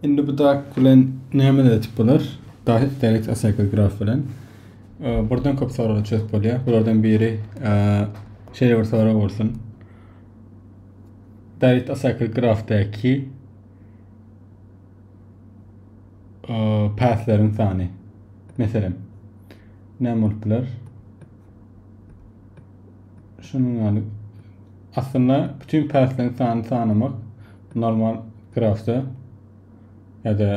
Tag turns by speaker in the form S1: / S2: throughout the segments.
S1: Indi bu dak bilen näme edip bolar? Dahyk Derek Acycle graf bilen birden köp soraglary çözüp bolýar. Bulardan biri şeýle bir sorag bolsun. Dahyk Acycle grafdaky päsleriň sany. Meselem, näme bolup biler? Şunuň ýaly. Aslynda bütün päsleň sanyny sanamak normal grafda ýa-da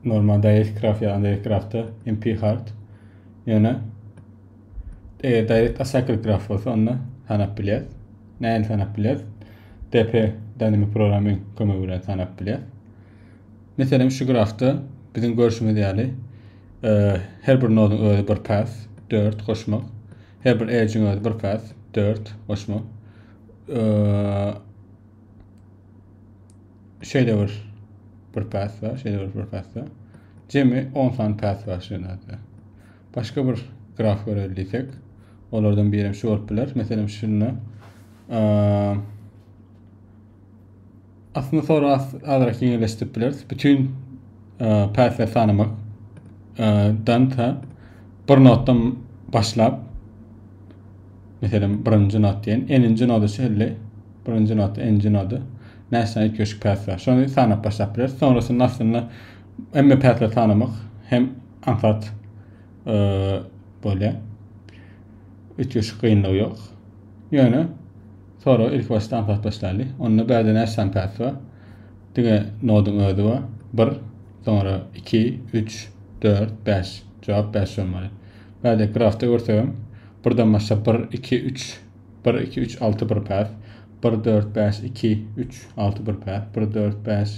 S1: normal direct graf ýa direct grafda MP hard. Ýöne eger direct acycle graf bolsa onda sanap bilýär. Näin sanap bilýär? DP dynamic programming kömegi bilen sanap bilýär. Meselem şu grafda biziň görüşimiz ýaly e, her bir noduň özi bir päs, 4 goşmak. Her bir edge-iň özi bir path, dört goşma. Şeýle bir bir path bar, şeýle bir bir path bar. Jemi 10 sany path bar şu ýerde. Başga bir graf göreli diýsek, olardan biri hem şu bolup biler. Meselem, şunda Aslynda soragy azrak ýeňilleşdirip bileris. Bütün päsleri sanamak dan ta bir notdan başlap meselem birinji not diýen, eninji noda çenli birinji not, eninji noda näçe ýetgeşik päsler. Şony sanap başlap bileris. Sonrasynda aslynda hemme päsleri sanamak hem aňsat bolýar. Üç ýeşik gynlygy ýok. Ýöne Sora ilkibaşda aňsat başlaýly. Onda bärde näçe sany päs bar? Diňe noduň özi bar. Bir, soňra iki, üç, dört, bäş. Jogap bäş bolmaly. Bärde grafda görsegem, birden başlap bir, iki, üç, bir, iki, üç, alty bir päs. Bir, dört, bäş, iki, üç, alty bir päs. Bir, dört, bäş,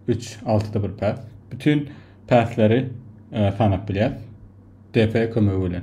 S1: üç, altyda bir päs. Bütin päsleri e, sanap bilýäs. DP kömegi bilen.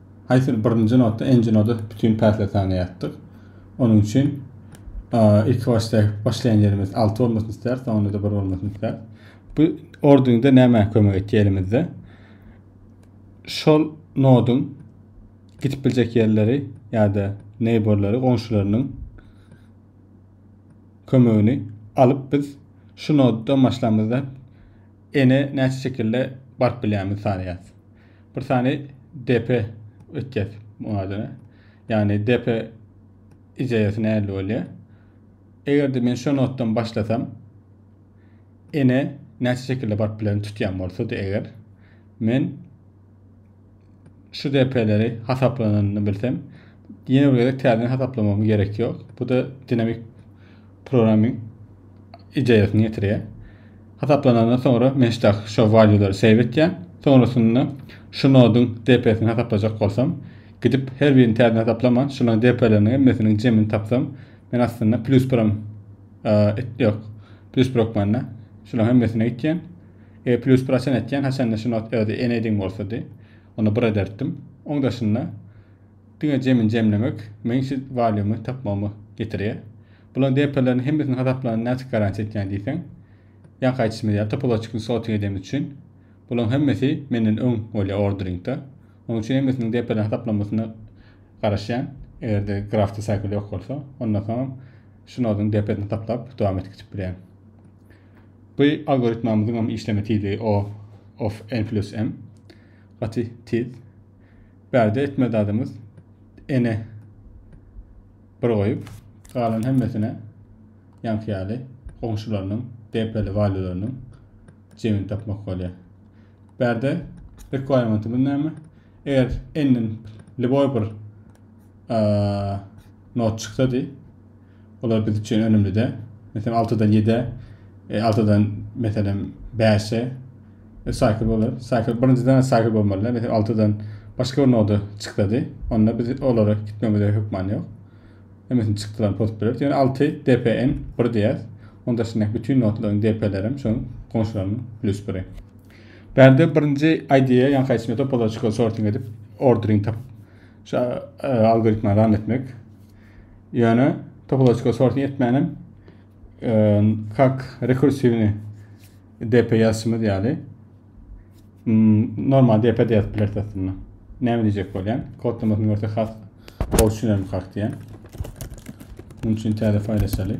S1: Haýsydyr birinji nota, nji nota bütin päsle tanaýardyk. Onuň üçin ilki başda başlaýan ýerimiz alty bolmasyny isläris, soňunda-da bir bolmasyny isläris. Bu ordinde nämä kömek etýär elimizde? Şol noduň gidip biljek ýerleri ýa-da neýborlary, goňşularynyň kömegini alyp biz şu noddan başlamyzda ene näçe şekilde baryp bilýämizi sanaýarys. Bir sany DP ötýär bu adına. Yani DP icayesi näli bolýar? Eger de men şu notdan başlasam, ene näçe şekilde baryp bilen tutýan bolsa da eger men şu DP-leri hasaplananyny bilsem, ýene bir gezek täzeden hasaplamam gerek ýok. Bu da dinamik programming ideýasyny getirýär. Hasaplanandan soňra men şdak şo valýulary save etýän. Soňrasynda şu noduň DP-sini hasaplajak bolsam, gidip her birini täzeden hasaplaman, şolaryň DP-leriniň hemmesiniň jemini tapsam, men aslynda plus biram et ýok. Plus bir hökmanda şolaryň hemmesine gitýän. E plus bir haçan etýän, haçanda şu not özi enediň bolsady. Onda bir ederdim. Oň daşynda Diňe jemin jemlemek meň şu walýumy tapmagyma getirýär. Bulaň DP-lerini hemmesini hasaplanyny näçik garantiýa etýäň diýseň, ýaňky aýtýşymyz ýaly topoloçikini sorting edemmiz üçin bulaň hemmesi menden öň bolýar ordering-da. Onuň üçin hemmesiniň DP-lerini hasaplanmasyna garaşýan, eger-de grafda cycle ýok bolsa, ondan soňam şu noduň DP-sini hasaplap dowam etgizip bilýän. Bu algoritmamyzyňam işleme tizligi O of n plus m gaty tiz. Bärde etme dadymyz ene bir goýup, galan hemmesine ýaňky ýaly goňşularynyň, depeli walileriňiň jemini tapmak bolýar. Bärde requirement-ymyz näme? Eger n-den liboý bir not çyksady, Olar biz üçin önümlide. Meselem, altydan ýedä, e, altydan, meselem, bäşe, e, saýkl bolar. Saýkl, birinjiden saýkl bolmalyda, meselem, altydan başga bir noda çyksady, onda biz olara gitmemize hökman ýok. Hemmesini çykdylan post bileris. Ýöne alty DPN bir diýer. Onda şundak bütün notlaryň DP-leri hem şoň goňşularynyň plüs biri. Bärde birinji ID-ýe ýaňky aýtdyşym ýaly topological sorting edip, ordering tapyp, şu e, algoritmany ran etmek. Ýöne topoloçka sorting etmänem kak rekursywny DP ýazşymyz ýaly normal DP de ýazyp bileris aslynda. Näme diýjek bolýan? Kodlamasyny görse has gowy düşünerim kak diýen. Munuň üçin täze faýl açaly.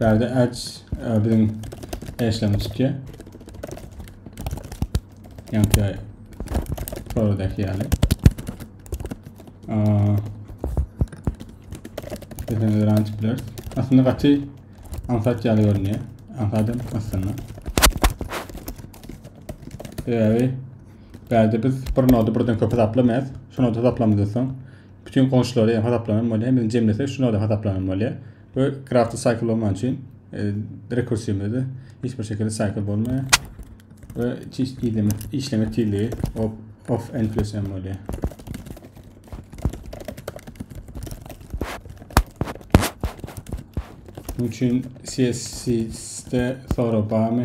S1: Bärde ads e, biziň eşleme çykýar. Ýanky sorudaky ýaly. Bizden öran açyp bileris. Aslynda gaty ansat ýaly görünýär. Ansadym aslynda. Sebäbi Bärde biz bir nody birden köp hasaplamaýas. Şu nody hasaplamazdan soň bütün goňşulary hem hasaplanan bolýar. Hemini jemlesek şu nody hasaplanan bolýar. We grafda cycle bolman üçin e, rekursiyimizde hiç bir şekilde cycle bolmaýar. Ve işleme, işleme tizligi of, of n plus m bolýar. Bunun için CSC'de sonra bağımı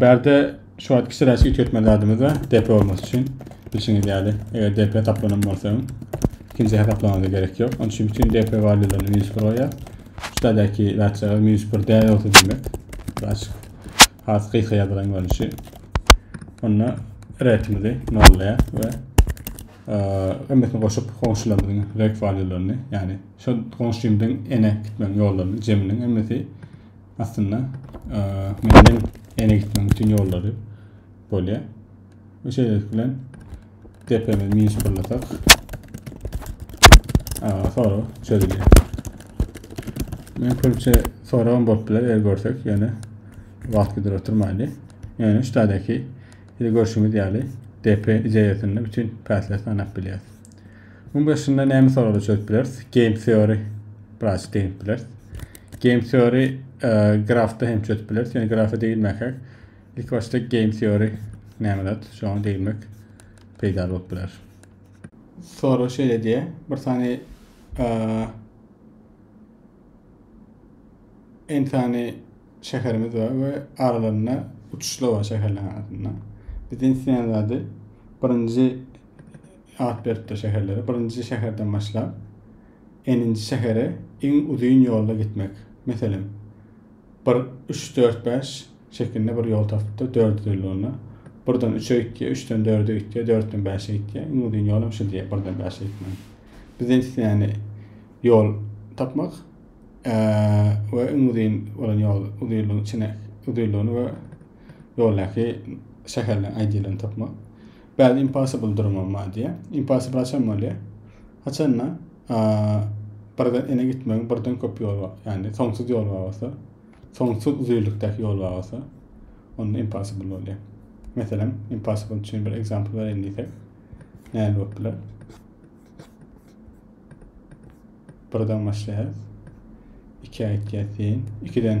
S1: Bärde şu wagt kişi raýsy üýtgetmeli zadymyz bar. DP olmasy üçin. Bilşiňiz ýaly, eger DP taplanan bolsa, ikinji hesaplamaga gerek ýok. Onuň üçin bütün DP walýularyny minus 1 goýýar. Şu zadäki zatçaga minus 1 däl bolsa diýmek. Açyk. Has gysga ýazylan görnüşi. Onda retimizi nollaýar we ömmesini goşup goňşularymyzyň ret walýularyny, ýagny şu goňşymyzyň ene gitmegiň ýollaryny jeminiň ömmesi Aslynda menden ene gitmegiň bütün ýollary bolýar. Bu şeýlelik bilen depemizi minus birlasak soru çözülýär. Men köpçe soragym bolup biler, eger görsek, ýöne wagt gider oturmaýly. Ýöne şu taýdaky görşümiz ýaly DP ijaýasynda bütün päsleri sanap bilýäris. Muň başynda näme soraglar çözüp bileris? Game theory biraz deňip bileris. Game theory e, grafda hem çözüp bileris. Ýöne grafa degilmäkäk ilk başda game theory näme zat? Şoňa degilmek peýdaly bolup biler. Sorag şeýle diýýär. Bir sany e, en sany şäherimiz bar we aralarynda uçuşlar bar şäherleriň arasynda. Bizden isleýän zady birinji Sagat beripdir şäherlere. Birinji şäherden başlap, n-nji şähere iň uzyn ýolda gitmek. Meselem, bir üç, dört, bäş şekilinde bir ýol tapypdyr, dördi dolulygyna. Birden üçe gitýär, üçden dörde gitýär, dörtden bäşe gitýär. Iň uzyn ýol hem şu diýýär, birden bäşe gitmegiň. Bizden islenýäni ýol tapmak we iň uzyn bolan ýol, uzynlygyň içine, uzynlygyny we ýoldaky şäherleriň aýdýalaryny tapmak. Bad impossible durmam bar diýä. Impossible haçan bolýa? Haçanda birden ene gitmegiň birden köp ýoly bar. Ýagny soňsuz ýol bar bolsa, soňsuz uzynlykdaky ýol bar bolsa, onda impossible bolýa. Meselem, impossible üçin bir example bereýin diýsek, näme bolup biler? Birden başlaýar. 2 aýtýar sen, 2-den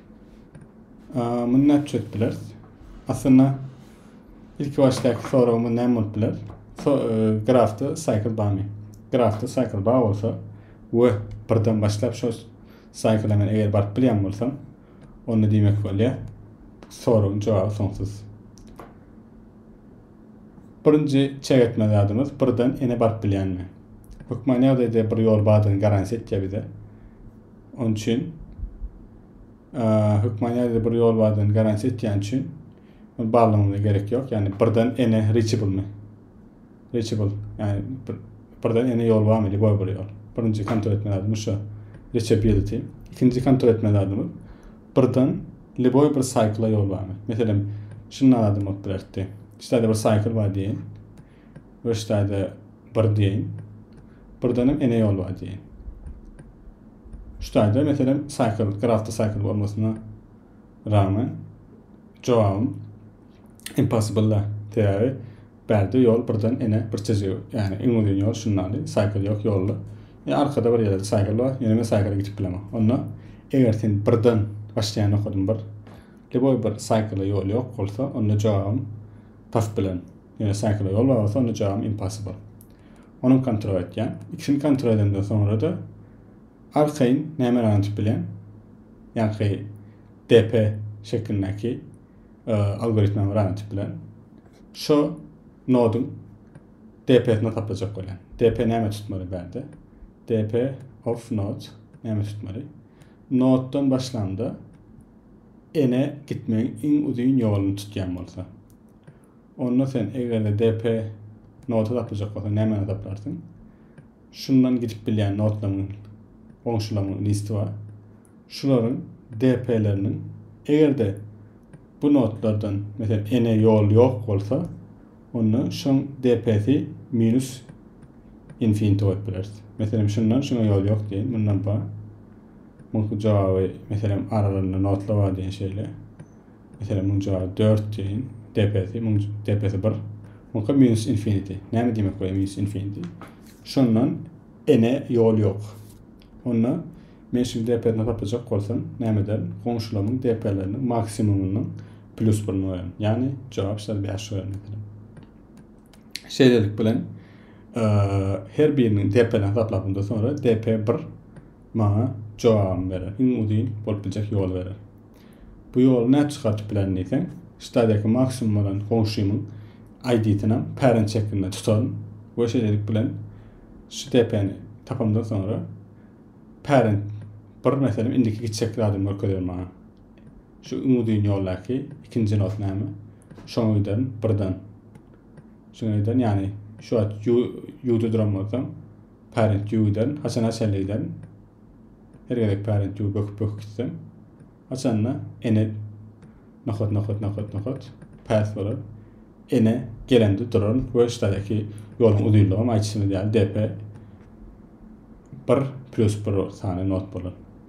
S1: Muny näçe üçin etdiler? Aslynda ilki başdaky soragymyz näme bolup biler? So, e, grafda cycle barmy? Grafda cycle bar bolsa we birden başlap şol cycle men eger baryp bilýän bolsam, onda diýmek bolýar. Soragyň jogaby soňsuz. Birinji çek etme zadymyz birden ene baryp bilýänmi? Hökman ýagdaýda bir ýol bardygyny garantiýa etýär bize. Onuň üçin hökman ýa-da bir ýol bardygyny garantiýa etýän üçin ony barlamagyna gerek ýok. Ýagny birden ene reachable-mi? Reachable. Ýagny bir birden ene ýol barmy? Diýip goý bir ýol. Birinji kontrol etme zadymy şu. Reachability. Ikinji kontrol etme zadymy birden liboý bir cycle ýol barmy? Meselem, şundan adam bolup bilerdi. Şeýle bir cycle bar diýen. Rüşdäde bir diýeýin. Birdenem ene ýol bar diýeýin. Şudaýda meselem cycle, grafda cycle bolmasyna ragmen jogabym impossible-da. Sebäbi bärde ýol birden ene bir çizgi, ýagny iň uzyn ýol şundaly, cycle ýok ýolda. Ýa arkada bir ýerde cycle bar, ýöne men cycle geçip bilemok. Onda eger sen birden başlaýan nokadym bir, leboý bir cycle ýol ýok bolsa, onda jogabym Pas bilen. Ýöne Saýkla ýol bar bolsa onda jogabym impossible. Ony kontrol etýän. Ikisini kontrol edemden soňra-da arkaýyn näme ranç bilen ýaňky DP şeklindäki algoritmem ranç bilen şo noduň DP-sini hasaplajak bolýan. DP näme tutmaly bärde? DP of node näme tutmaly? Noddan başlamda Ene gitmegiň iň uzyn ýoluny tutýan bolsa. Onda sen eger-de DP nota tapyljak bolsa nämäni taplarsyň? Şundan gidip bilýän notlaryň goňşularyň listi bar. Şularyň DP-leriniň eger-de bu notlardan meselen ene ýol ýok bolsa, onda şoň DP-si minus infinity goýup bileris. Meselem şundan şuňa ýol ýok diýeýin, mundan bar. Muňky jogaby, meselem, aralarynda notlar bar diýen şeýle. Meselem, muň jogaby 4 diýen, depesi, muň depesi 1. Muňka minus infinity. Näme diýmek bolýar minus infinity? Şondan ene ýol ýok. Onda men şu depesini tapajak bolsam, näme ederin? Goňşularymyň depeleriniň maksimumynyň plus 1-ni goýaryn. Ýagny jogap şeýle 5 goýaryn meselem. Şeýlelik bilen her biriniň depelerini hasaplapdan soňra DP1 maňa jogabym berer, iň uzyn bolup biljek ýoly berer. Bu ýoly nädip çykardyp bilerin diýseň, stadiýaky maksimum bolan goňşymyň ID-synam pären çekimde tutaryn we şeýlelik bilen şu DP-ni tapamdan soňra pären bir meselem indiki gitjek zadymy görkezer maňa. Şu iň uzyn ýoldaky ikinji not näme? Şoňa giderin birden. Şoňa giderin, ýagny şu wagt ýu-ýuwda duran bolsam, Parent View'den haçan açaly diýsem, her gezek Parent View böküp-böküp gitsem, açanda ene nokat nokat nokat nokat path bolar. Ene gelende duran we ştadaki ýoluň uzynlygam aýtşynyz ýaly DP 1 plus 1 sany not bolar.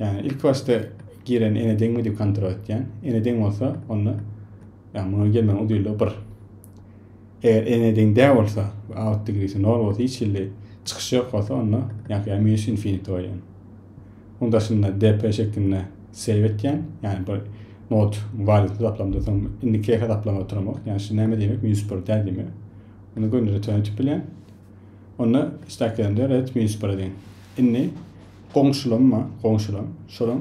S1: Ýagny ilki başda giren ene deňmi diýip kontrol etýän. Ene deň bolsa, onda ýagny muňa gelmegiň udylygy 1. Eger ene deň däl bolsa, out degresi 0 bolsa, hiç hili çykyş ýok bolsa, onda ýagny ýa minus infinity goýýan. Onuň daşynda dp şeklinde save etýän, ýagny bir nod value hasaplamda soň indiki hasaplama oturamok. Ýagny şu näme diýmek? Minus 1 däl diýmek. Ony göni return etip bilýän. Onda stakenler ret minus bir deň. Indi goňşulam bar, goňşulam. Şolaň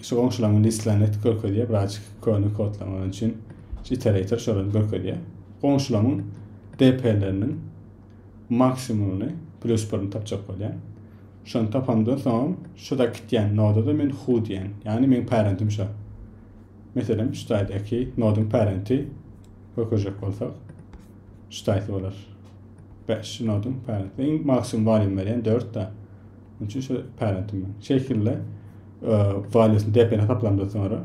S1: şu goňşularyň listlerini görkezýär, biraz köne kodlar bar üçin iterator şolary görkezýär. Goňşularyň DP-leriniň maksimumyny plus 1-ni tapjak bolýar. Şony tapamdan soň şuda gitýän noda da men who diýen. Ýagny meň parentim şu. Meselem, şu taýdaky nodyň parenti görkezjek bolsak, Ştaýt bolar. Bäş şinodyň parenti. Iň maksimum waliýum berýän dörtde. Muň üçin şu parenti men. Şeýkille waliýusyny depeni hasaplamda soňra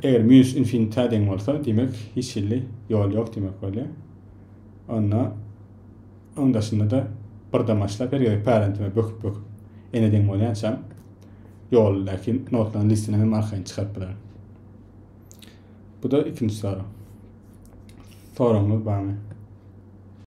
S1: eger minus infinite deň bolsa, diýmek hiç hilli ýol ýok diýmek bolýar. Onda oň daşynda da birden başlap her gezek parentime böküp böküp ene deň bolýançam ýoldaky notlaryň listini hem arkaýyn çykaryp bilerin. Bu-da ikinji sorag. Soragyňyz barmy?